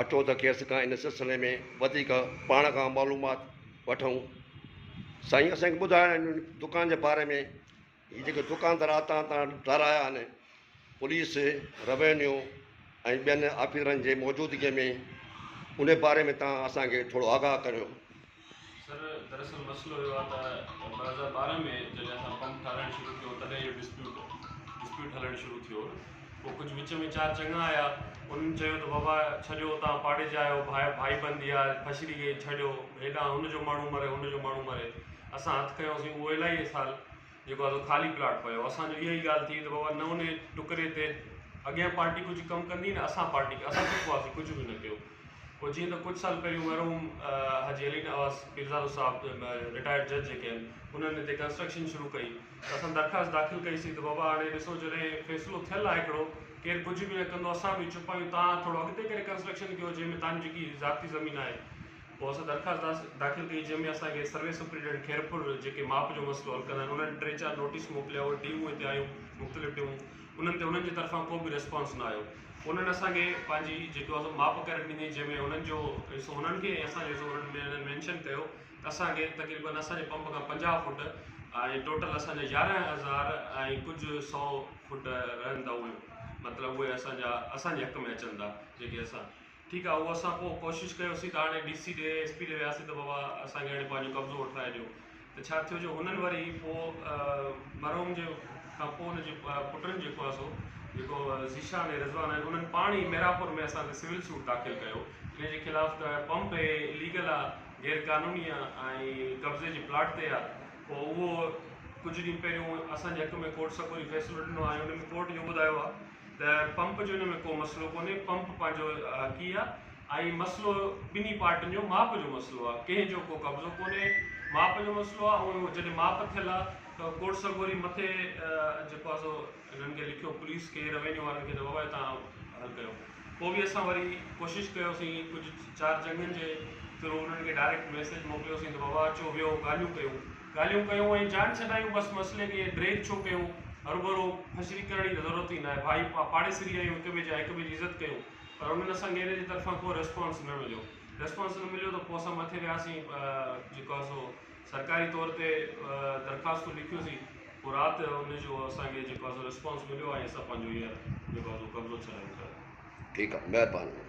اچو ته کيس کان ان سلسلي ۾ وڌيڪ پاڻ کان معلومات وٺون. سائين اسان کي ٻڌايو هن دڪان جي باري ۾ هي جيڪي دڪاندار اتان تان ڊارايا آهن پوليس روينيو ۽ ٻين آفيسرن جي موجودگي ۾ ان باري ۾ تان اسان کي ٿورو آگاهه ڪريو. سر دراصل مسئلو اهو آهي ته ٻه هزار ٻارهن ۾ جڏهن اسان پمپ ٺاهرائڻ شروع ڪيو تڏهن اهو ڊسپيوٽ ڊسپيوٽ هلڻ شروع ٿيو پوء ڪجهه وچ ۾ چار چڱا آيا انهن چيو ته بابا ڇڏيو تان پاڙي جا آهيو ڀائي ڀائي بندي آهي پڇڙي گئي ڇڏيو هيڏانهن هن جو ماڻهو مري هن جو ماڻهو مري اسان هٿ کنيوسين اهو الاهي سال جيڪو اسان خالي پلاٽ پيو اسان جو اها ئي ڳالهه ٿي ته بابا نه انهي ٽڪري تي اڳيان پارٽي ڪجهه ڪم ڪندي نه اسان پارٽي ڪي اسان چپ هئاسين ڪجهه به نه ڪيو پوء جيئن ته ڪجهه سال پهريون مرحوم حاجي علي نواز پيرزادو صاحب رٽائرڊ جج جيڪي آهن انهن هتي ڪنسٽرڪشن شروع ڪئي ته اسان درخواست داخل ڪئيسين ته بابا هاڻي ڏسو جڏهن فيصلو ٿيل آهي هڪڙو ڪير ڪجهه به نه ڪندو اسان به چپ آهيون تان ٿورو اڳتي ڪري ڪنسٽرڪشن ڪيو جنهن ۾ تان جيڪي ذاتي زمين آهي پوء اسان درخواست داخل ڪئي جنهن ۾ اسان کي سروي سپريڊنٽ خيرپور جيڪي ماپ جو مسئلو حل ڪندا آهن انهن ٽي چار نوٽيس موڪليا اهي ٽيمون هتي آيون مختلف ٽيمون انهن تي انهن جي طرفان ڪو به ريسپانس نه آيو پوء انهن اسان کي پنهنجي جيڪو اسان ماپ ڪري ڏني جنهن ۾ انهن جو حصو انهن کي ۽ اسان جو حصو انهن ۾ مينشن ڪيو ته اسان کي تقريبن اسان جي پمپ کان پنجاهه فوٽ ۽ ٽوٽل اسان جا يارهن هزار ۽ ڪجهه سو فوٽ رهن ٿا اهي مطلب اهي اسان جا اسان جي حق ۾ اچن ٿا جيڪي اسان ٺيڪ آ اهو اسان پوء ڪوشش ڪيوسين ته هاڻي ڊي سي ڏي ايس پي ڏي وياسين ته بابا اسان کي هاڻي پنهنجو قبضو وٺرائي ڏيو ته ڇا ٿيو جو هنن وري پوء مرحوم جي کان پوء هن جي پٽن جيڪو آهي سو جيڪو ذيشان ۽ رضوان آهن انهن پاڻ ئي ميرانپور ۾ اسان تي سول سوٽ داخل ڪيو ان جي خلاف ته پمپ اي ليگل آ غير قانوني آ ۽ قبضي جي پلاٽ تي آ پوء اهو ڪجهه ڏينهن پهريون اسان جي حق ۾ ڪورٽ سڪوري فيصلو ڏنو آ ۽ ان ۾ ڪورٽ اهو ٻڌايو آ ته پمپ جو ان ۾ ڪو مسئلو ڪونهي، پمپ پنهنجو حقي آ ۽ مسئلو ٻنهي پارٽين جو ماپ جو مسئلو آ، ڪنهن جو ڪو قبضو ڪونهي، ماپ جو مسئلو آ ۽ جڏهن ماپ ٿيل آ ته ڪورٽ سڳوري مٿي جيڪو آ سو هنن کي لکيو پوليس کي روينيو وارن کي ته بابا هي توهان حل ڪيو، پوء به اسان وري ڪوشش ڪيوسين ڪجهه چار چڱن جي ٿرو انهن کي ڊائريڪٽ ميسيج موڪليوسين ته بابا اچو ويهو ڳالهيون ڪيون. ڳالهيون ڪيون ۽ جان ڇڏايون بس مسئلي کي ڊريگ ڇو ڪيون هرڀرو فشري ڪرڻ جي ته ضرورت ئي ناهي ڀائي پاڙيسري آهيون هڪ ٻئي جا هڪ ٻئي جي عزت ڪيون پر انهن اسان کي انهن جي طرفان ڪو ريسپانس نه مليو ريسپانس نه مليو ته پوء اسان مٿي وياسين جيڪو آهي سو سرڪاري طور تي درخواستون لکيوسين پوء رات جو ان جو اسان کي جيڪو آهي سو ريسپانس مليو ۽ اسان پنهنجو هيئر جيڪو آهي سو قبضو ڇڏايون ٿا ٺيڪ آهي مهرباني